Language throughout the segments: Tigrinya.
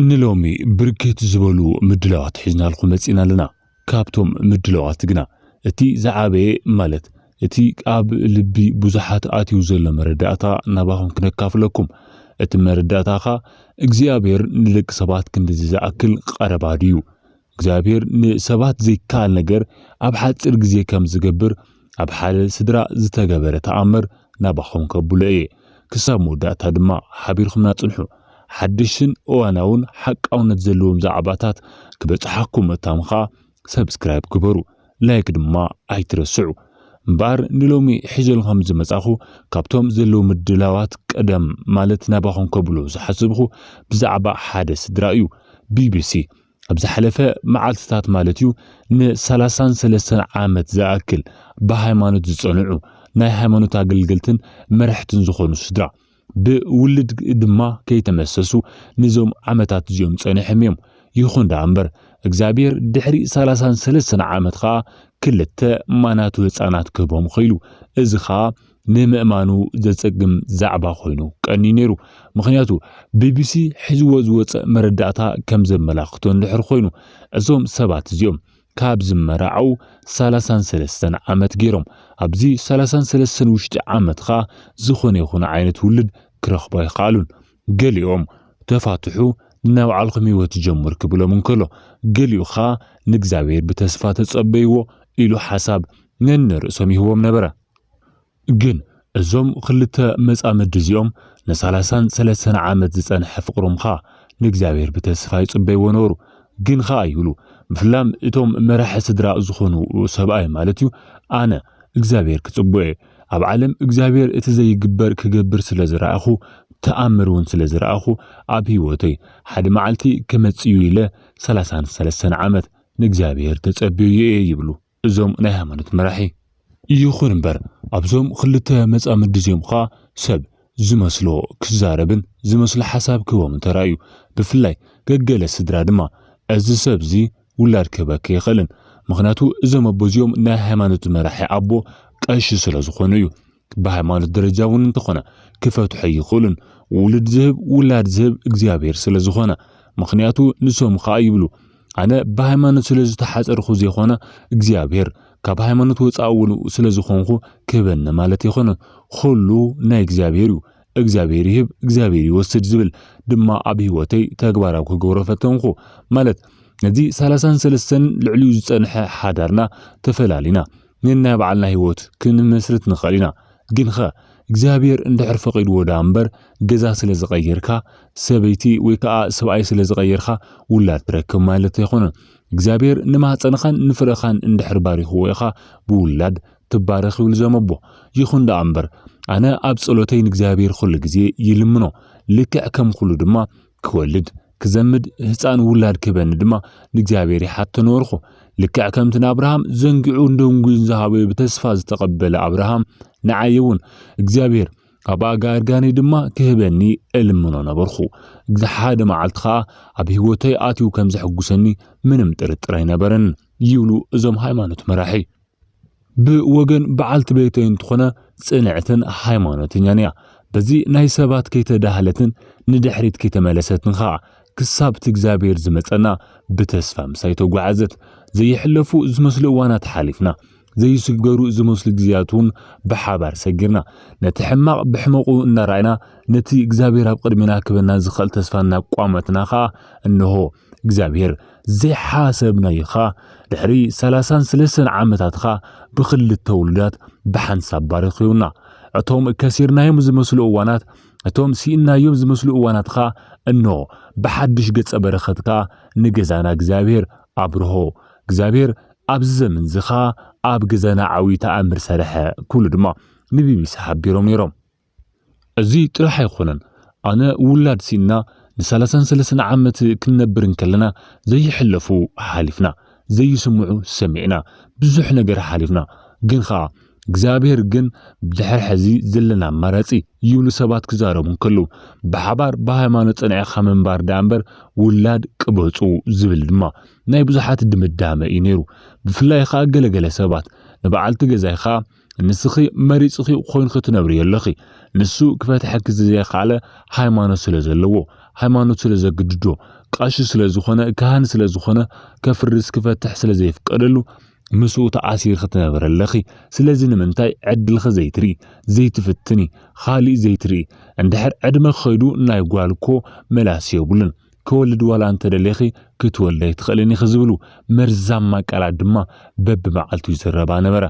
ንሎሚ ብርክት ዝበሉ ምድላዋት ሒዝናልኩም መጺእና ኣለና። ካብቶም ምድላዋት ግና እቲ ዝዓበየ ማለት እቲ ኣብ ልቢ ብዙሓት ኣትዩ ዘሎ መረዳእታ ናባኹም ክነካፍለኩም። እቲ መረዳእታ ከኣ እግዚኣብሔር ንደቂ ሰባት ክንድዚ ዝኣክል ቀረባ ድዩ? እግዚኣብሔር ንሰባት ዘይከኣል ነገር ኣብ ሓጺር ግዜ ከም ዝገብር ኣብ ሓደ ስድራ ዝተገበረ ተኣምር ናባኹም ከብሎ እየ። ክሳብ መወዳእታ ድማ ሓቢርኩምና ጽንሑ። ሓደሽትን እዋናውን ሓቃውነት ዘለዎም ዛዕባታት ክበጽሓኩም እታም ከኣ ሰብስክራይብ ግበሩ ላይክ ድማ ኣይትረስዑ። እምበኣር ንሎሚ ሒዘሉ ከም ዝመጻኹ ካብቶም ዘለዉ ምድላዋት ቀደም ማለት ናባኹም ከብሎ ዝሓሰብኹ ብዛዕባ ሓደ ስድራ እዩ። ቢቢሲ ኣብ ዝሓለፈ መዓልትታት ማለት እዩ ንሰላሳን ሰለስተን ዓመት ዝኣክል ብሃይማኖት ዝጸንዑ ናይ ሃይማኖት ኣገልገልትን መራሕትን ዝኾኑ ስድራ ብውልድ ድማ ከይተመሰሱ ንዞም ዓመታት እዚኦም ጸኒሖም እዮም ይኹን ደኣ እምበር እግዚኣብሔር ድሕሪ ሰላሳን ሰለስተን ዓመት ኸኣ ክልተ ማናቱ ህፃናት ክህቦም ኸኢሉ እዚ ኸኣ ንምእማኑ ዘጸግም ዛዕባ ኮይኑ ቀንዩ ነይሩ። ምኽንያቱ ቢቢሲ ሒዝዎ ዝወጸ መረዳእታ ከም ዘመላኽቶ እንድሕር ኮይኑ እዞም ሰባት እዚኦም ካብ ዝመራዓው ሰላሳን ሰለስተን ዓመት ገይሮም። ኣብዚ ሰላሳን ሰለስተን ውሽጢ ዓመት ኸኣ ዝኾነ ይኹን ዓይነት ውልድ ክረኽቡ ኣይኸኣሉን። ገሊኦም ተፋትሑ ንናይ ባዕልኹም ህይወት ጀምሩ ክብሎም እንከሎ ገሊኡ ኸኣ ንእግዚኣብሔር ብተስፋ ተጸበይዎ ኢሉ ሓሳብ ነንርእሶም ይህቦም ነበረ። ግን እዞም ክልተ መጻምዲ እዚኦም ንሳላሳን ሰለሰተን ዓመት ዝጸንሐ ፍቕሮም ኸኣ ንእግዚኣብሔር ብተስፋ ይጽበይዎ ነበሩ። ግን ኸኣ ይብሉ ብፍላም እቶም መራሒ ስድራ ዝኾኑ ሰብኣይ ማለት እዩ ኣነ እግዚኣብሔር ክጽብኦ እየ ኣብ ዓለም እግዚኣብሔር እቲ ዘይግበር ክገብር ስለ ዝረኣኹ ተኣምር እውን ስለ ዝረኣኹ ኣብ ሕይወተይ ሓደ መዓልቲ ክመጽእ እዩ ኢለ ሰላሳን ሰለሰተን ዓመት ንእግዚኣብሔር ተጸብየዮ እየ ይብሉ። እዞም ናይ ሃይማኖት መራሒ። ይኹን እምበር ኣብዞም ኽልተ መጻምዲ እዚኦም ኸኣ ሰብ ዝመስሎ ክዛረብን ዝመስሎ ሓሳብ ክህቦምን ተራእዩ። ብፍላይ ገገለ ስድራ ድማ እዚ ሰብ እዚ ውላድ ክህበኪ ኣይኽእልን ምኽንያቱ እዞም ኣቦ እዚኦም ናይ ሃይማኖት መራሒ ኣቦ ቀሺ ስለ ዝኾኑ እዩ። ብሃይማኖት ደረጃ እውን እንተኾነ ክፈትሑ ኣይኽእሉን ውሉድ ዝህብ ውላድ ዝህብ እግዚኣብሔር ስለ ዝኾነ ምኽንያቱ ንሶም ኸኣ ይብሉ ኣነ ብሃይማኖት ስለ ዝተሓጸርኹ ዘይኮነ እግዚኣብሔር ካብ ሃይማኖት ወጻኢ እውን ስለ ዝኾንኹ ክህበኒ ማለት ኣይኮነ ኹሉ ናይ እግዚኣብሔር እዩ እግዚኣብሔር ይህብ እግዚኣብሔር ይወስድ ዝብል ድማ ኣብ ህይወተይ ተግባራዊ ክገብሮ ፈተንኹ ማለት ነዚ ሰላሳን ሰለስተን ልዕሊኡ ዝጸንሐ ሓዳርና ተፈላሊና ነናይ ባዕልና ህይወት ክንመስርት ንኽእል ኢና። ግንኸ እግዚኣብሔር እንድሕር ፈቒድዎ ደኣ እምበር ገዛ ስለ ዝቐየርካ፣ ሰበይቲ ወይ ከኣ ሰብኣይ ስለ ዝቐየርካ ውላድ ትረክብ ማለት ኣይኮነን። እግዚኣብሔር ንማህጸንኻን ንፍረኻን እንድሕር ባሪኽዎ ኢኻ ብውላድ ትባረኽ ይብሉ እዞም ኣቦ። ይኹን ደኣ እምበር ኣነ ኣብ ጸሎተይ ንእግዚኣብሔር ኹሉ ግዜ ይልምኖ ልክዕ ከም ኹሉ ድማ ክወልድ ክዘምድ ህፃን ውላድ ክህበኒ ድማ ንእግዚኣብሔር ይሓቶ ነበርኩ። ልክዕ ከምቲ ንኣብርሃም ዘንጊዑን ደንጉዩን ዝሃበዮ ብተስፋ ዝተቐበለ ኣብርሃም ንዓይ እውን እግዚኣብሔር ካብ ኣጋርጋነይ ድማ ክህበኒ እልምኖ ነበርኩ። ሓደ መዓልቲ ከዓ ኣብ ህይወተይ ኣትዩ ከም ዘሕጉሰኒ ምንም ጥርጥር ኣይነበረን ይብሉ እዞም ሃይማኖት መራሒ። ብወገን በዓልቲ ቤተይ እንትኾነ ጽንዕትን ሃይማኖተኛን እያ። በዚ ናይ ሰባት ከይተዳህለትን ንድሕሪት ከይተመለሰትን ኸኣ ክሳብ'ቲ እግዚኣብሔር ዝመጸና ብተስፋ ምሳይ ተጓዓዘት። ዘይሕለፉ ዝመስሉ እዋናት ሓሊፍና። ዘይስገሩ ዝመስሉ ግዜያት'ውን ብሓባር ሰጊርና። ነቲ ሕማቕ ብሕመቑ እናረኣና ነቲ እግዚኣብሔር ኣብ ቅድሜና ክህበና ዝኽእል ተስፋ እናቋመትና ኸኣ እንሆ እግዚኣብሔር ዘይሓሰብናዩኻ ድሕሪ ሰላሳን ስለሰን ዓመታትኻ ብክልተ ውሉዳት ብሓንሳብ ባረኪውና እቶም ከሲርናዮም ዝመስሉ እዋናት እቶም ስኢናዮም ዝመስሉ እዋናትኻ እኖ ብሓድሽ ገጸ በረኸትካ ንገዛና እግዚኣብሔር ኣብርሆ እግዚኣብሔር ኣብዚ ዘመን እዚ ኸኣ ኣብ ገዛና ዓብዪ ተኣምር ሰርሐ ክብሉ ድማ ንቢቢሲ ሓቢሮም ነይሮም። እዚ ጥራሕ ኣይኮነን ኣነ ውላድ ሲኢንና ንሳላሳን ሰለሰን ዓመት ክንነብር እንከለና ዘይሕለፉ ሓሊፍና ዘይስምዑ ሰሚዕና ብዙሕ ነገር ሓሊፍና ግን ኸኣ እግዚኣብሔር ግን ብድሕሪ ሕዚ ዘለና ኣማራጺ ይብሉ ሰባት ክዛረቡ እንከለዉ ብሓባር ብሃይማኖት ጸኒዕኻ ምንባር ደኣ እምበር ውላድ ቅበጹ ዝብል ድማ ናይ ብዙሓት ድምዳመ እዩ ነይሩ ብፍላይ ኸኣ ገለገለ ሰባት ንበዓልቲ ገዛይ ኸኣ ንስኺ መሪጽኺ ኮይንኺ ትነብሪ ኣለኺ ንሱ ክፈትሐኪ ዘይኻለ ሃይማኖት ስለ ዘለዎ ሃይማኖት ስለ ዘግድዶ ቀሺ ስለ ዝኾነ ካህን ስለ ዝኾነ ከፍርስ ክፈትሕ ስለ ዘይፍቀደሉ ምስኡ ተኣሲርኺ ትነብሪ ኣለኺ ስለዚ ንምንታይ ዕድልኺ ዘይትርኢ ዘይትፍትኒ ኻሊእ ዘይትርኢ እንድሕር ዕድመ ኸይዱ ናይ ጓል እኮ መላሲ የብሉን ክወልድ ዋላ እንተደሊኺ ክትወልዲ ኣይትኽእልን ኢኺ ዝብሉ መርዛማ ቃላት ድማ በብመዓልቱ ይዝረባ ነበራ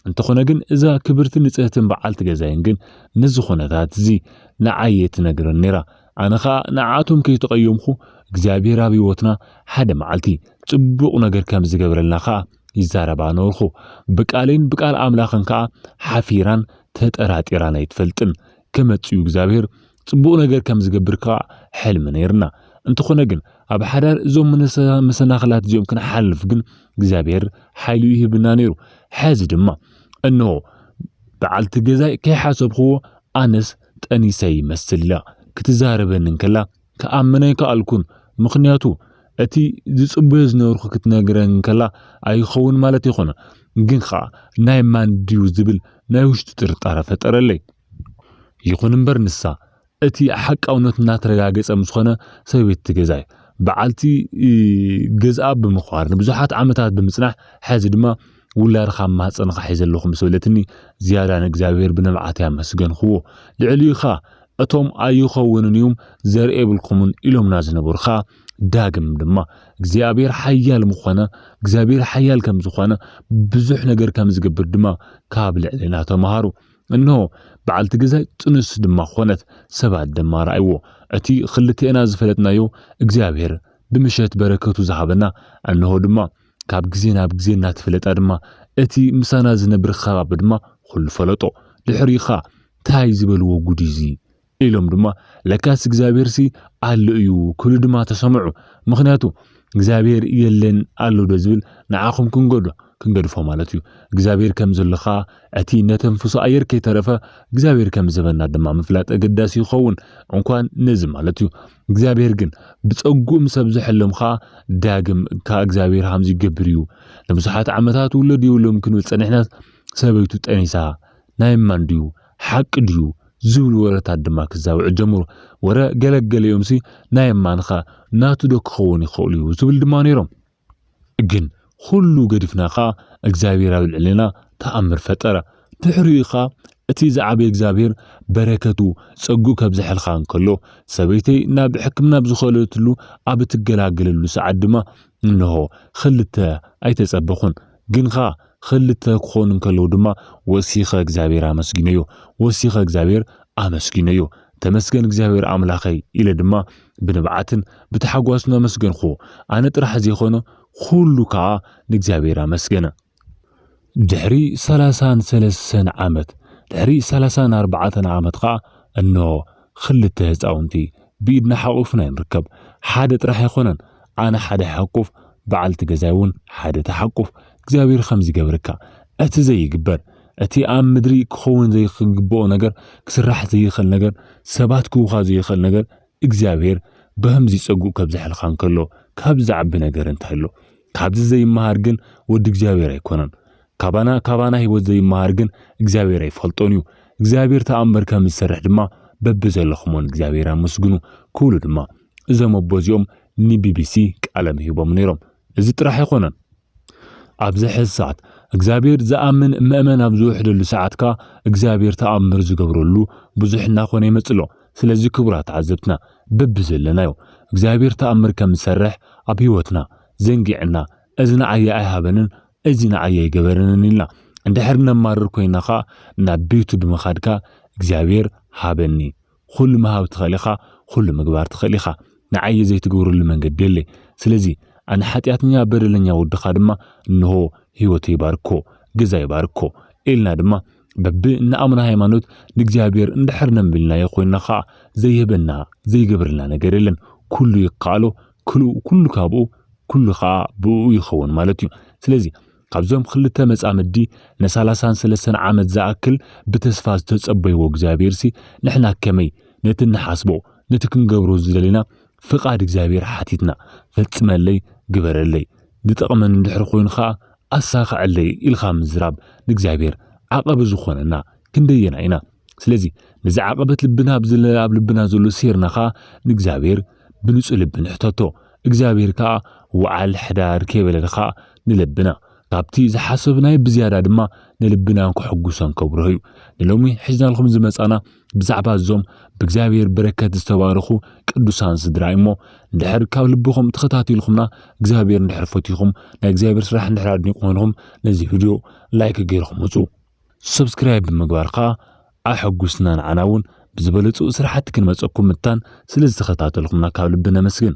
እንተኾነ ግን እዛ ክብርትን ንጽህትን በዓልቲ ገዛይን ግን ነዚ ኹነታት እዚ ንዓይ እየ ትነግረኒ ነይራ። ኣነ ኸኣ ንዓኣቶም ከይተቐየምኹ እግዚኣብሄር ኣብ ህይወትና ሓደ መዓልቲ ጽቡቕ ነገር ከም ዝገብረልና ኸኣ ይዛረባ ነበርኹ። ብቃለይን ብቃል ኣምላኽን ከኣ ሓፊራን ተጠራጢራን ኣይትፈልጥን። ክመጽእ እዩ እግዚኣብሄር ጽቡቕ ነገር ከም ዝገብር ከኣ ሕልሚ ነይርና። እንተኾነ ግን ኣብ ሓዳር እዞም መሰናኽላት እዚኦም ክንሓልፍ ግን እግዚኣብሔር ሓይሉ ይህብና ነይሩ። ሐዚ ድማ እንሆ በዓልቲ ገዛይ ከይሓሰብኽዎ ኣነስ ጠኒሰ ይመስል ኢላ ክትዛረበኒ እንከላ ክኣምን ኣይከኣልኩን። ምኽንያቱ እቲ ዝጽበዮ ዝነበርኩ ክትነግረኒ እንከላ ኣይኸውን ማለት ኣይኮነን፣ ግን ኸኣ ናይ ማን ድዩ ዝብል ናይ ውሽጢ ጥርጣረ ፈጠረለይ። ይኹን እምበር ንሳ፣ እቲ ሓቃውነቱ እናተረጋገጸ ምስ ኾነ፣ ሰበይቲ ገዛይ፣ በዓልቲ ገዝኣ ብምዃር፣ ንብዙሓት ዓመታት ብምጽናሕ፣ ሕዚ ድማ ውላድኻ ኣብ ማህጸንኻ ሒዘ ኣለኹ ምስ በለትኒ፣ ዝያዳ ንእግዚኣብሄር ብንብዓተይ ኣመስገንክዎ። ልዕሊኡ ኸኣ እቶም ኣይኸውንን እዩም ዘርኢ የብልኩምን ኢሎምና ዝነበሩ ኸኣ ዳግም ድማ እግዚኣብሄር ሓያል ምኾነ፣ እግዚኣብሄር ሓያል ከም ዝኾነ፣ ብዙሕ ነገር ከም ዝገብር ድማ ካብ ልዕሌና ተማሃሩ። እንሆ፣ በዓልቲ ገዛይ ጥኑስ ድማ ዀነት፣ ሰባት ድማ ረኣይዎ። እቲ ኽልቴና ዝፈለጥናዮ እግዚኣብሄር ብምሸት በረከቱ ዝሃበና፣ እንሆ ድማ፣ ካብ ግዜ ናብ ግዜ እናተፈለጣ ድማ፣ እቲ ምሳና ዝነብር ኸባቢ ድማ ዅሉ ፈለጦ። ድሕሪኡ ኸኣ ታይ ዝበልዎ ጕድ'ዩ እዚ! ኢሎም ድማ ለካስ እግዚኣብሔርሲ ኣሎ እዩ ክብሉ ድማ ተሰምዑ ምኽንያቱ እግዚኣብሔር የለን ኣሎ ዶ ዝብል ንዓኹም ክንገዶ ክንገድፎ ማለት እዩ እግዚኣብሔር ከም ዘሎ ኸኣ እቲ እነተንፍሶ ኣየር ከይተረፈ እግዚኣብሔር ከም ዝበና ድማ ምፍላጥ ኣገዳሲ ይኸውን እንኳን ነዚ ማለት እዩ እግዚኣብሔር ግን ብጸግኡ ምስ ኣብዘሐሎም ኸኣ ዳግም ከኣ እግዚኣብሔር ሃምዚ ይገብር እዩ ንብዙሓት ዓመታት ውለድ የብሎም ክንብል ጸኒሕናስ ሰበይቱ ጠኒሳ ናይ ማን ድዩ ሓቂ ድዩ? ዝብሉ ወረታት ድማ ክዛብዑ ጀምሩ። ወረ ገለገሊኦምሲ ናይ እማንኻ ናቱዶ ክኸውን ይኸእል'ዩ? ዝብሉ ድማ ነይሮም። ግን ኹሉ ገዲፍና ከኣ እግዚኣብሔር ኣብ ልዕሌና ተኣምር ፈጠረ። ድሕሪኡ ከኣ እቲ ዝዓበየ እግዚኣብሔር በረከቱ ጸግኡ ከብዘሐልካ እንከሎ ሰበይተይ ናብ ሕክምና ኣብ ዝኸለትሉ ኣብ እትገላገለሉ ሰዓት ድማ እንሆ ኽልተ ኣይተጸበኹን። ግን ኸኣ ኽልተ ክኾኑ እንከለዉ ድማ ወሲኸ እግዚኣብሔር ኣመስጊነዮ። ወሲኸ እግዚኣብሔር ኣመስጊነዮ። ተመስገን እግዚኣብሔር ኣምላኸይ ኢለ ድማ ብንብዓትን ብታሕጓስን ኣመስገንክዎ። ኣነ ጥራሕ ዘይኮነ ኹሉ ከኣ ንእግዚኣብሔር ኣመስገነ። ድሕሪ ሰላሳን ሰለሰን ዓመት ድሕሪ ሰላሳን ኣርባዕተን ዓመት ኸኣ እንሆ ኽልተ ህጻውንቲ ብኢድና ሓቊፍና ኢና ንርከብ። ሓደ ጥራሕ ኣይኮነን ኣነ ሓደ ይሓቁፍ በዓልቲ ገዛይ ውን ሓደ ትሓቁፍ እግዚኣብሄር ኸምዚ ይገብርካ እቲ ዘይግበር እቲ ኣብ ምድሪ ክኸውን ዘይክግብኦ ነገር ክስራሕ ዘይኽእል ነገር ሰባት ክህቡኻ ዘይኽእል ነገር እግዚኣብሄር ብኸምዚ ጸግኡ ከብዘሐልካ እንከሎ ካብዚ ዝዓቢ ነገር እንታይ ኣሎ ካብዚ ዘይመሃር ግን ወዲ እግዚኣብሄር ኣይኮነን ካባና ካባና ሕይወት ዘይመሃር ግን እግዚኣብሔር ኣይፈልጦን እዩ እግዚኣብሔር ተኣምር ከም ዝሰርሕ ድማ በቢ ዘለኹሞ ንእግዚኣብሔር ኣመስግኑ ክብሉ ድማ እዞም ኣቦ እዚኦም ንቢቢሲ ቃለ ምሂቦም ነይሮም እዚ ጥራሕ ኣይኮነን ኣብዚ ሕዚ ሰዓት እግዚኣብሔር ዝኣምን መእመን ኣብ ዝውሕደሉ ሰዓት ከኣ እግዚኣብሔር ተኣምር ዝገብረሉ ብዙሕ እናኾነ ይመጽእ ኣሎ ስለዚ ክቡራት ተዓዘብትና በቢ ዘለናዮ እግዚኣብሔር ተኣምር ከም ዝሰርሕ ኣብ ሕይወትና ዘንጊዕና እዚ ንዓይ ኣይሃበንን እዚ ንዓይ ኣይገበረንን ኢልና እንድሕር ነማርር ኮይና ከኣ ናብ ቤቱ ብምኻድ ከኣ እግዚኣብሔር ሃበኒ ኹሉ ምሃብ ትኽእል ኢኻ ኹሉ ምግባር ትኽእል ኢኻ ንዓይ ዘይትገብረሉ መንገዲ የለይ ስለዚ ኣነ ሓጢኣተኛ በደለኛ ወድኻ ድማ እንሆ ሕይወተይ ባርኮ ገዛይ ባርኮ ኢልና ድማ በቢ እንኣምኖ ሃይማኖት ንእግዚኣብሔር እንድሕር ነምልናዮ ኮይና ከኣ ዘይህበና ዘይገብረልና ነገር የለን ኩሉ ይከኣሎ ክልኡ ኩሉ ካብኡ ኩሉ ከኣ ብእኡ ይኸውን ማለት እዩ። ስለዚ ካብዞም ክልተ መጻምዲ ንሳላሳን ሰለስተን ዓመት ዝኣክል ብተስፋ ዝተጸበይዎ እግዚኣብሔርሲ ንሕና ከመይ ነቲ እንሓስቦ ነቲ ክንገብሮ ዝደለና ፍቃድ እግዚኣብሔር ሓቲትና ፈጽመለይ ግበረለይ ዝጠቅመኒ እንድሕር ኮይኑ ከኣ ኣሳኽዐለይ ኢልካ ምዝራብ ንእግዚኣብሔር ዓቐቢ ዝኾነና ክንደየናይ ኢና ስለዚ ነዚ ዓቐበት ልብና ኣብ ዝለ ኣብ ልብና ዘሎ ሴርና ኸኣ ንእግዚኣብሔር ብንጹ ልቢ ንሕተቶ እግዚኣብሔር ከኣ ወዓል ሕዳር ከይበለልኻ ንለብና ካብቲ ዝሓሰብናዮ ብዝያዳ ድማ ንልብናን ከሐጉሶን ከብርሆ እዩ ንሎሚ ሒዝናልኩም ዝመጻና ብዛዕባ እዞም ብእግዚኣብሔር በረከት ዝተባረኹ ቅዱሳን ስድራ እዩ እሞ እንድሕር ካብ ልብኹም ተኸታቲልኩምና እግዚኣብሔር እንድሕር ፈትኹም ናይ እግዚኣብሔር ስራሕ እንድሕር ኣድኒቁምልኹም ነዚ ቪድዮ ላይክ ገይርኹም ውጹ ሰብስክራይብ ብምግባር ከኣ ኣሐጉስና ንዓና እውን ብዝበለጹ ስራሕቲ ክንመጸኩም ምታን ስለ ዝተኸታተልኩምና ካብ ልቢ ነመስግን።